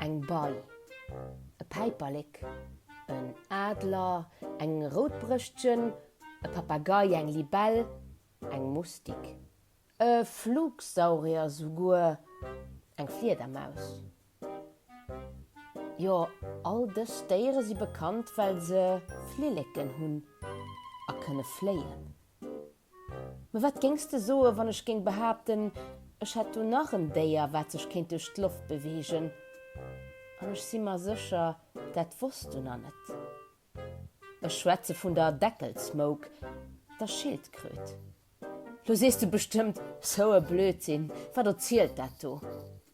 Eng Bei, e Päiperlek, en Adler, eng Routbrëschtchen, e Papagei, eng Libell, eng Mustik, e Flugsaurier, souguer eng Fliedermaus. Jo, all dës Déiere si bekannt, well se Flilleken hunn a kënne fléien. Mä wat géings de soen, wann ech géing behaapten, ech hätt do nach en Déier, wat sech kéint duerch d'Loft beweegen? An ech si mer sécher, dat wosst du nach net. Ech schwätze vun der Deckelsmouk, der Schildkröt. Lo sees du bestëmmt, Sou e Blödsinn, wat erzielt dat do?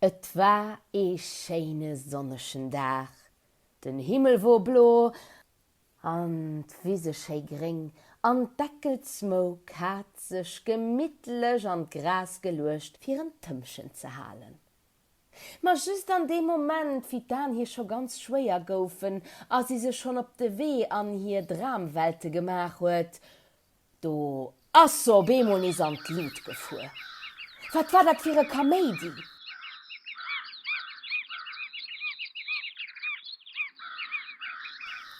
Et war ee schéine sonneschen Dag, den Himmel wor blo an d'Wise schéi gréng an d'Deckelsmouk hat sech gemittlech an d'Gras geluecht fir en Tëmpchen ze halen. Ma just an deem Moment, wéi d'Aen hir scho ganz schwéier goufen a si sech schonn op de Wee an hir Dramwelte gemaach huet, Do ass se op eemol nees an d'Liit gefuer. Wat war dat fir e Kaméidi!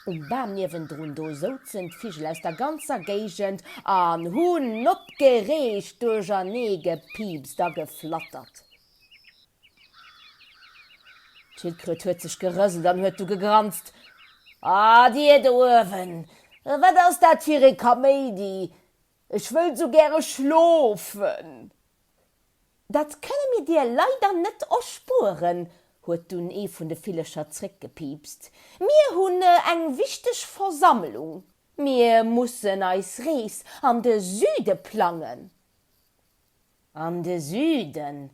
Um Bam niewendrun, do souzen d'Vigel aus der ganzer Géigend an hunn opgereegt duerchernee gepiipst a geflattert. D'Schildkröt huet sech gerëselt an huet du gegranzt, Ah, dir do uewen, wat ass dat fir ee Kaméidi? Ech wëll sou gäre schlofen! Dat kënne mir dir leider net erspueren, huet dunn ee vun de Villecher zréckgepiipst, Mir hunn eng wichteg Versammlung. Mir mussen eis Rees an de Süde plangen. An de Süden!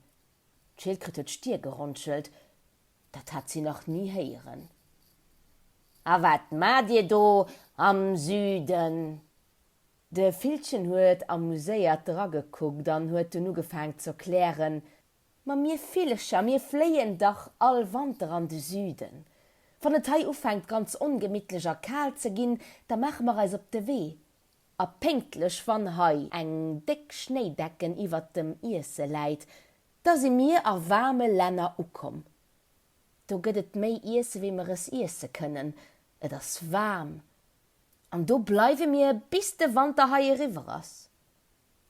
D'Schildkröt huet d'Stier gerunzelt, dat hat si nach ni héieren. A wat maacht Dir do am Süden? De Villchen huet amuséiert dra gekuckt an huet dunn ugefaangen z'erklären, Ma mir Villcher, mir fléien dach all Wanter an de Süden. Wann et hei ufänkt ganz ongemittlech a kal ze ginn, da maache mer eis op de Wee. A pénktlech wann hei eng déck Schnéidecken iwwert dem Iesse läit, da si mir a waarme Länner ukomm. Do gëtt et méi Iesse wéi mer es iesse kënnen, et ass waarm. An do bleiwe mir bis de Wanter hei eriwwer ass.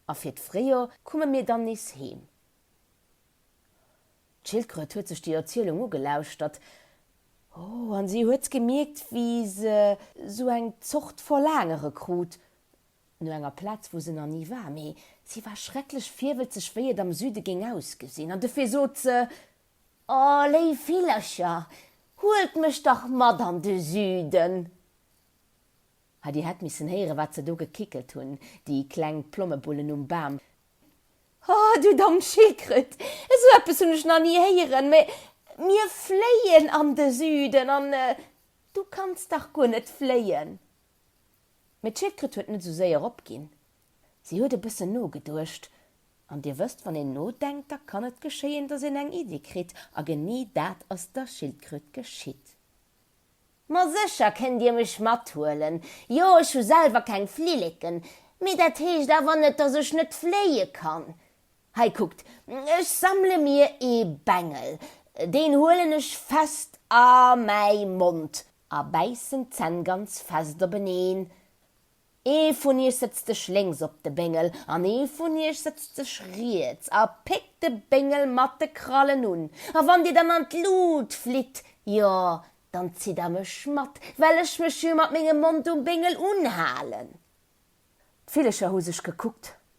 A fir d'Fréijor kumme mir dann nees heem. D'Schildkröt huet sech déi Erzielung ugelauschtert. Oh, an si huet gemierkt, wéi se sou eng Zort Verlaangere krut no enger Plaz, wou se nach ni war. Mee si war schrecklech virwëlzeg, wéi et am Süde géing ausgesinn, an dofir sot se, O léif Villercher, huelt mech dach mat an de Süden! Ha, dir hätt missen héieren, wat se do gekickelt hunn, déi kleng Plommebullen um Bam. Oh, du domm Schildkröt! Esou eppes hunn ech nach ni héieren, mä mir fléien an de Süden an du kanns dach guer net fléien! Mä d'Schildkröt huet net esou séier opginn. Si huet e bëssen nogeduecht. An dir wësst, wann een nodenkt, da kann et geschéien, datt een eng Iddi kritt. A genee dat ass der Schildkröt geschitt. Ma sécher kënnt Dir mech mathuelen. Jo, ech hu selwer keng Flilleken, mee dat heescht awer net, dass ech net fléie kann. Hei kuckt, ech sammele mir ee Bengel, deen huelen ech fest a mäi Mond a bäissen d'Zänn ganz fest openeen. Ee vun iech sëtzt sech lénks op de Béngel an ee vun iech sëtzt sech riets a péckt de Béngel mat de Krallen un. A wann dir dann an d'Lut flitt, jo, dann zitt der mech mat, well ech mech jo mat mengem Mond um Béngel unhalen. D'Villecher hu sech gekuckt.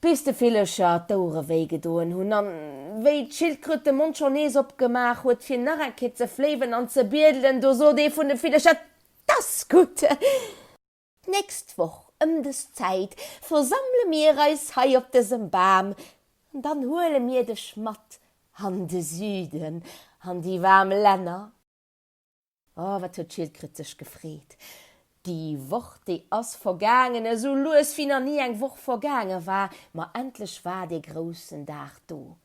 Bis de Villecher d'Ouere wéi gedoen hunn an wéi d'Schildkröt de Mond schonn nees opgemaach huet, fir nach eng Kéier ze fléiwen an ze biedelen, do sot ee vun de Villecher, 't ass gutt! D'nächst Woch ëm dës Zäit versammele mir eis hei op dësem Bam an dann huele mir dech mat an de Süden, an déi waarm Länner. Oh, wat huet d'Schildkrëtt sech gefreet! Déi Woch, déi ass vergaangen, esou lues wéi nach ni eng Woch vergaange war. Ma endlech war dee groussen Dag do.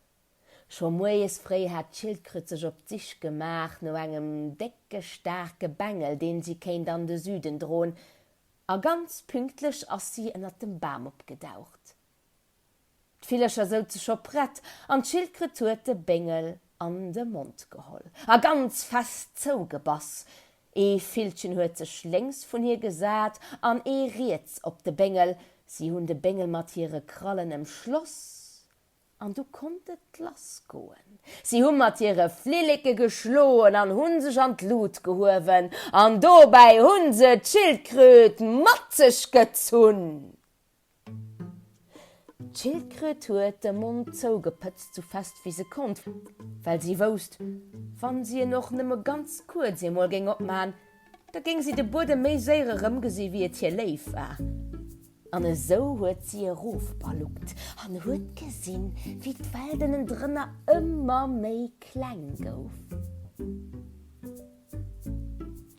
Scho moies fréi hat d'Schildkrëtt sech op d'Sich gemaach no engem décke staarke Bengel, deen si kéint an de Süden droen. A ganz pünktlech ass si ënnert dem Bam opgedaucht. D'Villercher souze scho prett an d'Schildkrëtt huet de Béngel an de Mond geholl a ganz fest zougebass. Ee Villchen huet sech lénks vun hir gesat an ee riets op de Béngel. Si hunn de Béngel mat hire Krallen ëmschloss an du konnt et lass goen. Si hu mat hire Flilleke geschloen an hu sech an d'Lut gehuewen an dobäi hu se d'Schildkröt mat sech gezunn. D'Schildkröt huet de Mond zougepëtzt, sou fest wéi se konnt, well si wousst, wa si en och nëmme ganz kuerz eemol géing opman, da géing si de Buedem méi séier erëmgesi wéi et hir léif war. An esou huet si erofbaluckt an huet gesinn, wéi d'Welt ënnendrënner ëmmer méi kleng gouf.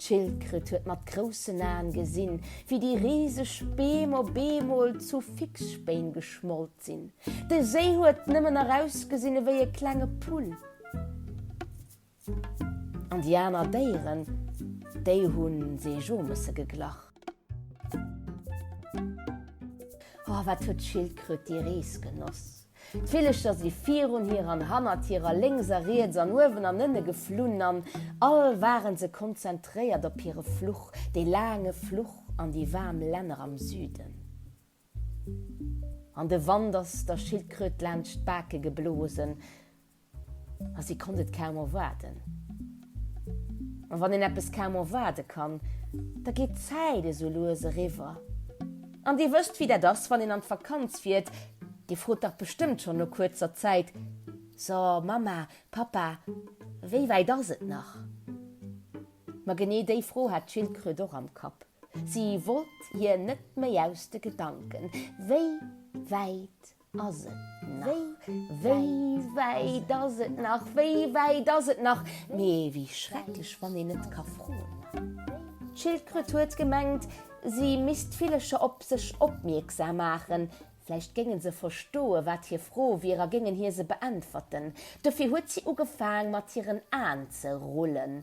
D'Schildkrëtt huet mat groussen Aen gesinn, wéi déi riseg Beem op eemol zu Fixspéin geschmolt sinn. De Séi huet nëmmen nach ausgesinn ewéi e klenge Pull. An déi aner Déieren, déi hu sech o mësse geglach. O, wat huet d'Schildkrëtt déi Rees genoss! D'Villecher si virun hir an hannert hir a lénks a riets an uewen an ënne geflunn an all ware se konzentréiert op hire Fluch, dee laange Fluch an déi waarm Länner am Süden. An de Wand ass der Schildkröt laanscht d'Bake geblosen. A si konnt et kaum erwaarden. A wann een eppes kaum erwaarde kann, da geet d'Zäit esou lues eriwwer. An Dir wësst, wéi dat ass, wann een an d'Vakanz fiert, Dir frot dach bestëmmt schonn no kuerzer Zäit, So, Mamma, Pappa, wéi wäit ass et nach? Ma genee déi Fro hat d'Schildkröt och am Kapp. Si wollt hir net méi aus de Gedanken. Wéi wäit Ass et nach? Wéi wäit ass et nach? Wéi wäit ass et nach? Mee wéi schrecklech, wann een net ka froen! D'Schildkröt huet gemengt, si misst d'Villecher op sech opmierksam maachen, vläicht géinge se verstoen, wat hir Fro wier a géingen hir se beäntwerten. Dofir huet si ugefaang, mat hiren Aen ze rullen.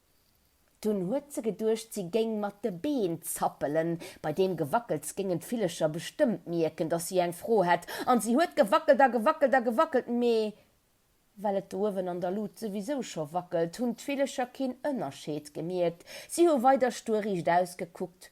Dunn huet se geduecht, si géing mat de Been zappelen. Bei deem Gewackels géingen d'Villecher bestëmmt mierken, datt si eng Fro hätt. An si huet gewackelt a gewackelt a gewackelt, mee well et do uewen an der Lut souwisou scho wackelt, hunn d'Villecher keen Ënnerscheed gemierkt. Si hu weider stuer riichtaus gekuckt.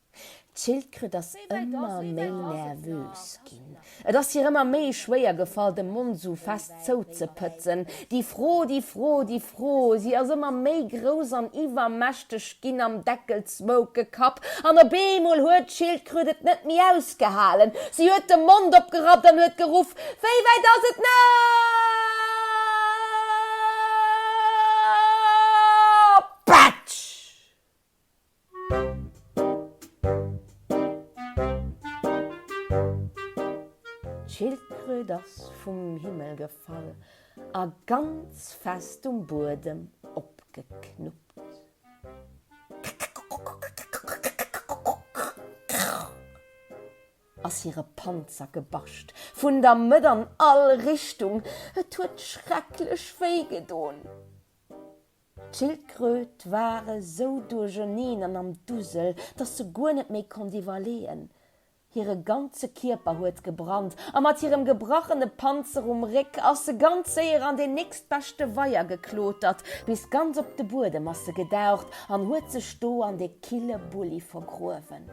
D'Schildkröt ass ëmmer méi nervös ginn. Et ass hir ëmmer méi schwéier gefall, de Mond esou fest zouzepëtzen. Déi Fro, déi Fro, déi Fro, si ass ëmmer méi grouss an iwwermächteg ginn, am Deckel zwou gekapp. An op eemol huet d'Schildkröt et net méi ausgehalen. Si huet de Mond opgerappt an huet geruff, Wéi wäit ass et nach? Pätsch! D'Schildkröt ass vum Himmel gefall a ganz fest um Buedem opgeknuppt. Ass hire Panzer gebascht vun der Mëtt an all Richtung. Et huet schrecklech wéi gedon. D'Schildkröt war esou duercherneen an am Dusel, dass se guer net méi konnt iwwerleeën. Hire ganze Kierper huet gebrannt, a mat hirem gebrachene Panzer um Réck ass se ganz séier an deen nächstbeschte Weier geklotert, bis ganz op de Buedem ass se gedaucht an huet sech do an de kille Bulli vergruewen.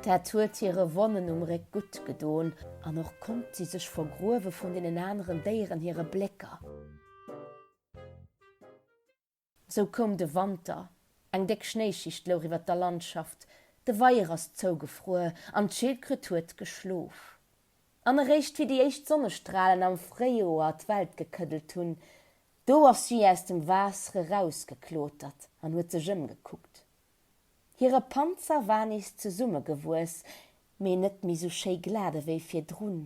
Dat huet hire Wonnen um Réck gutt gedon, an och konnt si sech vergruewe vun deenen aneren Déieren hire Blécker. Sou koum de Wanter. Eng déck Schnéischicht louch iwwer der Landschaft, de Weier ass zougefruer an d'Schildkröt huet geschlof. An eréischt wéi déi éischt Sonnestralen am Fréijoer d'Welt gekëddelt hunn, do ass si aus dem Waasser erausgeklotert an huet sech ëmgekuckt. Hire Panzer war nees zesummegewuess, mee net méi sou schéi glat ewéi virdrun.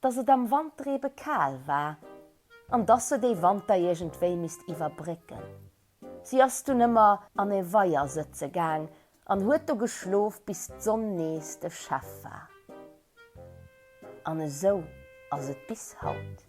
dass et am Wanter ebe kal war an dass se dee Wanter iergendwéi misst iwwerbrécken. Si ass dunn ëmmer an e Weier sëtze gaang an huet do geschlof, bis d'Sonn nees de Chef war. An esou ass et bis haut.